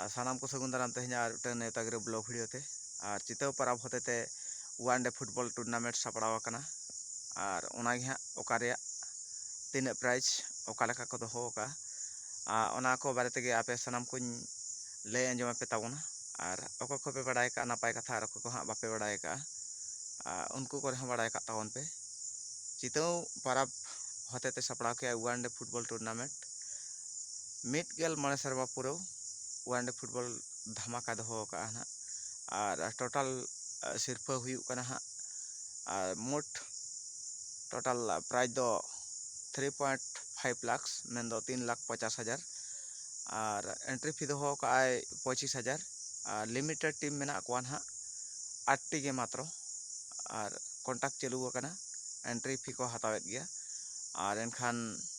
ᱟᱨ ᱥᱟᱱᱟᱢ ᱠᱚ ᱥᱟᱹᱜᱩᱱ ᱫᱟᱨᱟᱢ ᱛᱮᱦᱮᱧ ᱟᱨ ᱢᱤᱫᱴᱟᱝ ᱱᱮᱣᱛᱟ ᱜᱤᱨᱟᱹ ᱵᱞᱚᱜ ᱵᱷᱤᱰᱤᱭᱳ ᱛᱮ ᱟᱨ ᱪᱤᱛᱟᱹᱣ ᱯᱟᱨᱟᱵᱽ ᱦᱚᱛᱮ ᱛᱮ ᱳᱣᱟᱱ ᱰᱮ ᱯᱷᱩᱴᱵᱚᱞ ᱴᱩᱨᱱᱟᱢᱮᱱᱴ ᱥᱟᱯᱲᱟᱣ ᱟᱠᱟᱱᱟ ᱟᱨ ᱚᱱᱟᱜᱮ ᱦᱟᱸᱜ ᱚᱠᱟ ᱨᱮᱭᱟᱜ ᱛᱤᱱᱟᱹᱜ ᱯᱨᱟᱭᱤᱡᱽ ᱚᱠᱟ ᱞᱮᱠᱟ ᱠᱚ ᱫᱚᱦᱚ ᱟᱠᱟᱜᱼᱟ ᱟᱨ ᱚᱱᱟ ᱠᱚ ᱵᱟᱨᱮ ᱛᱮᱜᱮ ᱟᱯᱮ ᱥᱟᱱᱟᱢ ᱠᱚᱧ ᱞᱟᱹᱭ ᱟᱸᱡᱚᱢ ᱟᱯᱮ ᱛᱟᱵᱚᱱᱟ ᱟᱨ ᱚᱠᱚᱭ ᱠᱚᱯᱮ ᱵᱟᱲᱟᱭ ᱟᱠᱟᱜᱼᱟ ᱱᱟᱯᱟᱭ ᱠᱟᱛᱷᱟ ᱟᱨ ᱚᱠᱚᱭ ᱠᱚ ᱦᱟᱸᱜ ᱵᱟᱯᱮ ᱵᱟᱲᱟᱭ ᱟᱠᱟᱜᱼᱟ ᱟᱨ ᱩᱱᱠᱩ ᱠᱚᱨᱮ ᱦᱚᱸ ᱵᱟᱲᱟᱭ ᱠᱟᱜ ᱛᱟᱵᱚᱱ ᱯᱮ ᱪᱤᱛᱟᱹᱣ ᱯᱟᱨᱟᱵᱽ ᱦᱚᱛᱮ ᱛᱮ ᱥᱟᱯᱲᱟᱣ ᱠᱮᱜᱼᱟ ᱳᱣᱟᱱ ᱰᱮ ᱯᱷᱩᱴᱵᱚᱞ ᱴᱩᱨᱱᱟᱢᱮᱱᱴ ᱢᱤᱫ ᱜᱮᱞ ᱢᱚᱬᱮ ᱥᱮᱨᱢᱟ ᱯᱩᱨᱟᱹᱣ ᱚᱣᱟᱱᱰᱮ ᱯᱷᱩᱴᱵᱚᱞ ᱫᱷᱟᱢᱟᱠᱟ ᱫᱚᱦᱚ ᱠᱟᱜᱼᱟ ᱱᱟᱜ ᱟᱨ ᱴᱳᱴᱟᱞ ᱥᱤᱨᱯᱟᱹ ᱦᱩᱭᱩᱜ ᱠᱟᱱᱟ ᱦᱟᱸᱜ ᱟᱨ ᱢᱳᱴ ᱴᱳᱴᱟᱞ ᱯᱨᱟᱭᱤᱡᱽ ᱫᱚ ᱛᱷᱨᱤ ᱯᱚᱭᱮᱱᱴ ᱯᱷᱟᱭᱤᱵᱽ ᱞᱟᱠᱷᱥ ᱢᱮᱱᱫᱚ ᱛᱤᱱ ᱞᱟᱠᱷ ᱯᱚᱪᱟᱥ ᱦᱟᱡᱟᱨ ᱟᱨ ᱮᱱᱴᱨᱤ ᱯᱷᱤ ᱫᱚᱦᱚ ᱠᱟᱜ ᱟᱭ ᱯᱚᱸᱪᱤᱥ ᱦᱟᱡᱟᱨ ᱟᱨ ᱞᱤᱢᱤᱴᱮᱰ ᱴᱤᱢ ᱢᱮᱱᱟᱜ ᱠᱚᱣᱟ ᱱᱟᱜ ᱟᱴ ᱴᱤ ᱜᱮ ᱢᱟᱛᱨᱚ ᱟᱨ ᱠᱚᱱᱴᱟᱠᱴ ᱪᱟᱹᱞᱩ ᱟᱠᱟᱱᱟ ᱮᱱᱴᱨᱤ ᱯᱷᱤ ᱠᱚ ᱦᱟᱛᱟᱣᱮᱫ ᱜᱮᱭᱟ ᱟᱨ ᱮᱱᱠᱷᱟᱱ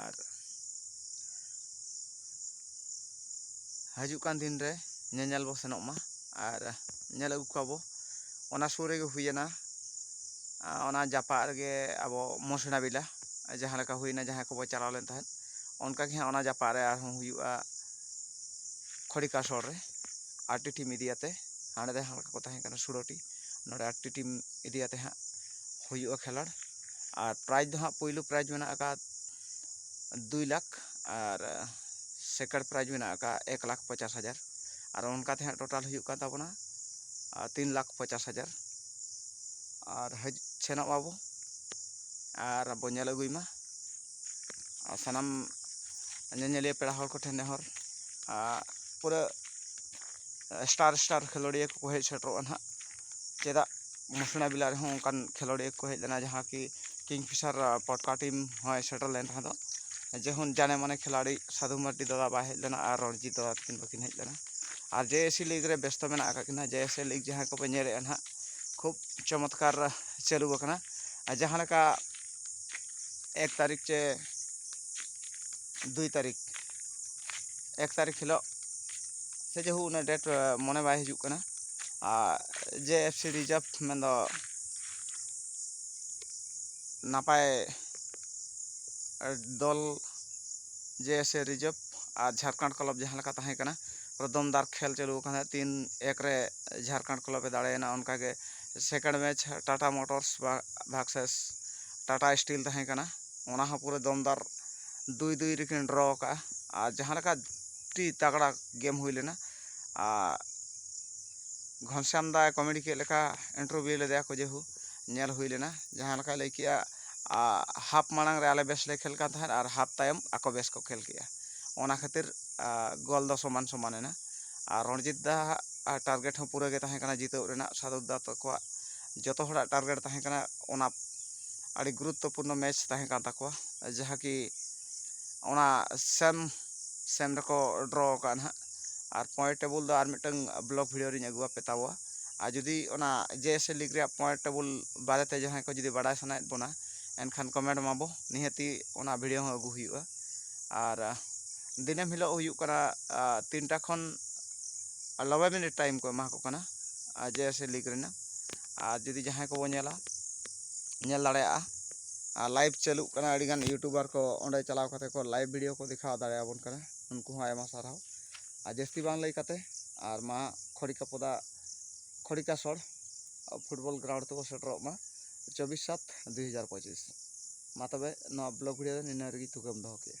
ᱟᱨ ᱦᱤᱡᱩᱜ ᱠᱟᱱ ᱫᱤᱱ ᱨᱮ ᱧᱮᱧᱮᱞ ᱵᱚ ᱥᱮᱱᱚᱜ ᱢᱟ ᱟᱨ ᱧᱮᱞ ᱟᱹᱜᱩ ᱠᱚᱣᱟ ᱵᱚ ᱚᱱᱟ ᱥᱩᱨ ᱨᱮᱜᱮ ᱦᱩᱭᱮᱱᱟ ᱚᱱᱟ ᱡᱟᱯᱟᱜ ᱨᱮᱜᱮ ᱟᱵᱚ ᱢᱚᱥᱱᱟ ᱵᱮᱞᱟ ᱡᱟᱦᱟᱸ ᱞᱮᱠᱟ ᱦᱩᱭᱮᱱᱟ ᱡᱟᱦᱟᱸᱭ ᱠᱚᱵᱚ ᱪᱟᱞᱟᱣ ᱞᱮᱱ ᱛᱟᱦᱮᱸᱫ ᱚᱱᱠᱟ ᱜᱮ ᱦᱟᱸᱜ ᱚᱱᱟ ᱡᱟᱯᱟᱜ ᱨᱮ ᱟᱨᱦᱚᱸ ᱦᱩᱭᱩᱜᱼᱟ ᱠᱷᱚᱲᱤᱠᱟ ᱥᱳᱨ ᱨᱮ ᱟᱨ ᱴᱤ ᱴᱤᱢ ᱤᱫᱤ ᱠᱟᱛᱮ ᱦᱟᱸᱰᱮ ᱫᱚ ᱦᱟᱞᱠᱟ ᱠᱚ ᱛᱟᱦᱮᱸ ᱠᱟᱱᱟ ᱥᱳᱞᱳᱴᱤ ᱱᱚᱰᱮ ᱟᱴ ᱴᱤ ᱴᱤᱢ ᱤᱫᱤ ᱠᱟᱛᱮ ᱦᱟᱸᱜ ᱦᱩᱭᱩᱜᱼᱟ ᱠᱷᱮᱞᱳᱰ ᱟᱨ ᱯᱨᱟᱭᱤᱡᱽ ᱫᱚ ᱦᱟᱸᱜ ᱯᱳᱭᱞᱳ ᱯᱨᱟᱭᱤᱡᱽ ᱢᱮᱱᱟᱜ ᱟᱠᱟᱫ ᱫᱩᱭ ᱞᱟᱠᱷ ᱟᱨ ᱥᱮᱠᱮᱱᱰ ᱯᱨᱟᱭᱤᱡᱽ ᱢᱮᱱᱟᱜ ᱟᱠᱟᱫ ᱮᱠ ᱞᱟᱠᱷ ᱯᱚᱪᱟᱥ ᱦᱟᱡᱟᱨ ᱟᱨ ᱚᱱᱠᱟ ᱛᱮ ᱦᱟᱸᱜ ᱴᱳᱴᱟᱞ ᱦᱩᱭᱩᱜ ᱠᱟᱱ ᱛᱟᱵᱚᱱᱟ ᱛᱤᱱ ᱞᱟᱠᱷ ᱯᱚᱪᱟᱥ ᱦᱟᱡᱟᱨ ᱟᱨ ᱦᱮᱡ ᱥᱮᱱᱚᱜ ᱢᱟᱵᱚᱱ ᱟᱨ ᱵᱚᱱ ᱧᱮᱞ ᱟᱹᱜᱩᱭ ᱢᱟ ᱟᱨ ᱥᱟᱱᱟᱢ ᱧᱮᱧᱮᱞᱤᱭᱟᱹ ᱯᱮᱲᱟ ᱦᱚᱲ ᱠᱚᱴᱷᱮᱱ ᱱᱮᱦᱚᱨ ᱟᱨ ᱯᱩᱨᱟᱹ ᱥᱴᱟᱨ ᱥᱴᱟᱨ ᱠᱷᱮᱞᱳᱰᱤᱭᱟᱹ ᱠᱚᱠᱚ ᱦᱮᱡ ᱥᱮᱴᱮᱨᱚᱜᱼᱟ ᱦᱟᱸᱜ ᱪᱮᱫᱟᱜ ᱢᱩᱥᱱᱟ ᱵᱮᱞᱟ ᱨᱮᱦᱚᱸ ᱚᱱᱠᱟᱱ ᱠᱷᱮᱞᱳᱰᱤᱭᱟᱹ ᱠᱚ ᱦᱮᱡ ᱞᱮᱱᱟ ᱡᱟᱦᱟᱸ ᱠᱤ ᱠᱤᱝ ᱯᱷᱤᱥᱟᱨ ᱯᱟᱴᱠᱟ ᱴᱤᱢ ᱦᱚᱸᱭ ᱥᱮᱴᱮᱨ ᱞᱮᱱ ᱛᱟᱦᱮᱸ ᱫᱚ ᱡᱮᱢᱚᱱ ᱡᱟᱱᱮ ᱢᱟᱱᱮ ᱠᱷᱤᱞᱟᱲᱤ ᱥᱟᱹᱫᱷᱩ ᱢᱟᱨᱰᱤ ᱫᱟᱫᱟ ᱵᱟᱭ ᱦᱮᱡ ᱞᱮᱱᱟ ᱟᱨ ᱨᱚᱱᱡᱤᱛ ᱫᱟᱫᱟ ᱛᱟᱹᱠᱤᱱ ᱵᱟᱹᱠᱤᱱ ᱦᱮᱡ ᱞᱮᱱᱟ ᱟᱨ ᱡᱮ ᱮᱥ ᱥᱤ ᱞᱤᱜᱽ ᱨᱮ ᱵᱮᱥᱛᱚ ᱢᱮᱱᱟᱜ ᱟᱠᱟᱫ ᱠᱤᱱᱟ ᱡᱮ ᱮᱥ ᱮ ᱞᱤᱜᱽ ᱡᱟᱦᱟᱸᱭ ᱠᱚᱯᱮ ᱧᱮᱞᱮᱫᱼᱟ ᱦᱟᱸᱜ ᱠᱷᱩᱵᱽ ᱪᱚᱢᱚᱛᱠᱟᱨ ᱪᱟᱹᱞᱩ ᱟᱠᱟᱱᱟ ᱟᱨ ᱡᱟᱦᱟᱸ ᱞᱮᱠᱟ ᱮᱠ ᱛᱟᱹᱨᱤᱠᱷ ᱪᱮ ᱫᱩᱭ ᱛᱟᱹᱨᱤᱠᱷ ᱮᱠ ᱛᱟᱹᱨᱤᱠᱷ ᱦᱤᱞᱳᱜ ᱥᱮ ᱡᱮ ᱦᱳᱠ ᱩᱱᱟᱹᱜ ᱰᱮᱴ ᱢᱚᱱᱮ ᱵᱟᱭ ᱦᱤᱡᱩᱜ ᱠᱟᱱᱟ ᱟᱨ ᱡᱮ ᱮᱯᱷ ᱥᱤ ᱨᱤᱡᱟᱨᱵᱽ ᱢᱮᱱ ᱫᱚ ᱱᱟᱯᱟᱭ ᱫᱚᱞ ᱡᱮ ᱮᱯᱷ ᱥᱤ ᱨᱤᱡᱟᱨᱵᱽ ᱟᱨ ᱡᱷᱟᱲᱠᱷᱚᱸᱰ ᱠᱞᱟᱵᱽ ᱡᱟᱦᱟᱸ ᱞᱮᱠᱟ ᱛᱟᱦᱮᱸ ᱠᱟᱱᱟ ᱫᱚᱢᱫᱟᱨ ᱠᱷᱮᱞ ᱪᱟᱹᱞᱩ ᱟᱠᱟᱱᱟ ᱛᱤᱱ ᱮᱠ ᱨᱮ ᱡᱷᱟᱲᱠᱷᱚᱸᱰ ᱠᱞᱟᱵᱽ ᱮ ᱫᱟᱲᱮᱭᱮᱱᱟ ᱚᱱᱠᱟ ᱜᱮ second match Tata motors versus Tata steel ᱛᱟᱦᱮᱸ ᱠᱟᱱᱟ ᱚᱱᱟ ᱦᱚᱸ ᱯᱩᱨᱟᱹ ᱫᱚᱢᱫᱟᱨ ᱫᱩᱭ ᱫᱩᱭ ᱨᱮᱠᱤᱱ ᱰᱨᱚ ᱟᱠᱟᱫᱼᱟ ᱟᱨ ᱡᱟᱦᱟᱸ ᱞᱮᱠᱟ ᱟᱹᱰᱤ ᱛᱟᱜᱽᱲᱟ ᱜᱮᱢ ᱦᱩᱭ ᱞᱮᱱᱟ ᱟᱨ ᱜᱷᱚᱱᱥᱟᱢ ᱫᱟᱭ ᱠᱚᱢᱮᱰᱤ ᱠᱮᱫ ᱞᱮᱠᱟ ᱤᱱᱴᱟᱨᱵᱷᱤᱭᱩ ᱞᱮᱫᱮᱭᱟ ᱠᱚ ᱡᱮᱦᱳᱠ ᱧᱮᱞ ᱦᱩᱭ ᱞᱮᱱᱟ ᱡᱟᱦᱟᱸ ᱞᱮᱠᱟᱭ ᱞᱟᱹᱭ ᱠᱮᱫᱼᱟ ᱦᱟᱯ ᱢᱟᱲᱟᱝ ᱨᱮ ᱟᱞᱮ ᱵᱮᱥ ᱞᱮ ᱠᱷᱮᱞ ᱠᱟᱱ ᱛᱟᱦᱮᱸᱫ ᱟᱨ ᱦᱟᱯ ᱛᱟᱭᱚᱢ ᱟᱠᱚ ᱵᱮᱥ ᱠᱚ ᱠᱷᱮᱞ ᱠᱮᱫᱼᱟ ᱚᱱᱟ ᱠᱷᱟᱹᱛᱤᱨ ᱜᱚᱞ ᱫᱚ ᱥᱚᱢᱟᱱ ᱥᱚᱢᱟᱱ ᱮᱱᱟ ᱟᱨ ᱨᱚᱱᱡᱤᱛ ᱫᱟ ᱟᱜ ᱴᱟᱨᱜᱮᱴ ᱦᱚᱸ ᱯᱩᱨᱟᱹ ᱜᱮ ᱛᱟᱦᱮᱸ ᱠᱟᱱᱟ ᱡᱤᱛᱟᱹᱣ ᱨᱮᱱᱟᱜ ᱥᱟᱫᱚᱛ ᱫᱟ ᱛᱟᱠᱚᱣᱟᱜ ᱡᱚᱛᱚ ᱦᱚᱲᱟᱜ ᱴᱟᱨᱜᱮᱴ ᱛᱟᱦᱮᱸ ᱠᱟᱱᱟ ᱚᱱᱟ ᱟᱹᱰᱤ ᱜᱩᱨᱩᱛᱛᱚ ᱯᱩᱨᱱᱚ ᱢᱮᱪ ᱛᱟᱦᱮᱸ ᱠᱟᱱ ᱛᱟᱠᱚᱣᱟ ᱡᱟᱦᱟᱸ ᱠᱤ ᱚᱱᱟ ᱥᱮᱢ ᱥᱮᱢ ᱨᱮᱠᱚ ᱰᱨᱚ ᱠᱟᱜᱼᱟ ᱱᱟᱦᱟᱜ ᱟᱨ ᱯᱚᱭᱮᱱᱴ ᱴᱮᱵᱤᱞ ᱫᱚ ᱟᱨ ᱢᱤᱫᱴᱟᱝ ᱵᱞᱚᱠ ᱵᱷᱤᱰᱭᱳ ᱨᱤᱧ ᱟᱹᱜᱩ ᱟᱯᱮ ᱛᱟᱵᱚᱣᱟ ᱟᱨ ᱡᱩᱫᱤ ᱚᱱᱟ ᱡᱮ ᱮᱥ ᱮᱞ ᱞᱤᱜᱽ ᱨᱮᱭᱟᱜ ᱯᱚᱭᱮᱱᱴ ᱴᱮᱵᱤᱞ ᱵᱟᱨᱮ ᱛᱮ ᱡᱟᱦᱟᱸᱭ ᱠᱚ ᱡᱩᱫᱤ ᱵᱟᱲᱟᱭ ᱥᱟᱱᱟᱭᱮᱫ ᱵᱚᱱᱟ ᱮᱱᱠᱷᱟᱱ ᱠᱚᱢᱮᱱᱴ ᱢᱟᱵᱚ ᱱᱤᱦᱟᱹᱛᱤ ᱚᱱᱟ ᱵᱷᱤᱰᱭᱳ ᱦᱚᱸ ᱟᱹᱜᱩ ᱦᱩᱭᱩᱜᱼᱟ ᱟᱨ ᱫᱤᱱᱟᱹᱢ ᱦᱤᱞᱳᱜ ᱦᱩᱭᱩᱜ ᱠᱟᱱᱟ ᱛᱤᱱᱴᱟ ᱠᱷᱚᱱ ᱱᱚᱵᱽᱵᱳᱭ ᱢᱤᱱᱤᱴ ᱴᱟᱭᱤᱢ ᱠᱚ ᱮᱢᱟ ᱠᱚ ᱠᱟᱱᱟ ᱟᱨ ᱡᱮ ᱮᱥ ᱮᱞ ᱞᱤᱜᱽ ᱨᱮᱱᱟᱜ ᱟᱨ ᱡᱩᱫᱤ ᱡᱟᱦᱟᱸᱭ ᱠᱚᱵᱚᱱ ᱧᱮᱞᱟ ᱧᱮᱞ ᱫᱟᱲᱮᱭᱟᱜᱼᱟ ᱟᱨ ᱞᱟᱭᱤᱵᱷ ᱪᱟᱹᱞᱩᱜ ᱠᱟᱱᱟ ᱟᱹᱰᱤ ᱜᱟᱱ ᱤᱭᱩᱴᱩᱵᱟᱨ ᱠᱚ ᱚᱸᱰᱮ ᱪᱟᱞᱟᱣ ᱠᱟᱛᱮ ᱠᱚ ᱞᱟᱭᱤᱵᱷ ᱵᱷᱤᱰᱭᱳ ᱠᱚ ᱫᱮᱠᱷᱟᱣ ᱫᱟᱲᱮᱭᱟᱵᱚᱱ ᱠᱟᱱᱟ ᱩᱱᱠᱩ ᱦᱚᱸ ᱟᱭᱢᱟ ᱥᱟᱨᱦᱟᱣ ᱟᱨ ᱡᱟᱹᱥᱛᱤ ᱵᱟᱝ ᱞᱟᱹᱭ ᱠᱟᱛᱮ ᱟᱨ ᱢᱟ ᱠᱷᱚᱲᱤᱠᱟ ᱯᱚᱫᱟ ᱠᱷᱚᱲᱤᱠᱟ ᱥᱚᱲ ᱯᱷᱩᱴᱵᱚᱞ ᱜᱨᱟᱣᱩᱱᱰ ᱛᱮᱵᱚ ᱥᱮᱴᱮᱨᱚᱜ ᱢᱟ ᱪᱚᱵᱵᱤᱥ ᱥᱟᱛ ᱫᱩᱭ ᱦᱟᱡᱟᱨ ᱯᱚᱸᱪᱤᱥ ᱢᱟ ᱛᱚᱵᱮ ᱱᱚᱣᱟ ᱵᱞᱚᱜ ᱵᱷᱤᱰᱭᱳ ᱫᱚ ᱱᱤᱱᱟᱹ ᱨᱮᱜᱮ ᱛᱷᱩᱠᱟᱹᱢ ᱫᱚᱦᱚ ᱠᱮᱫᱼᱟ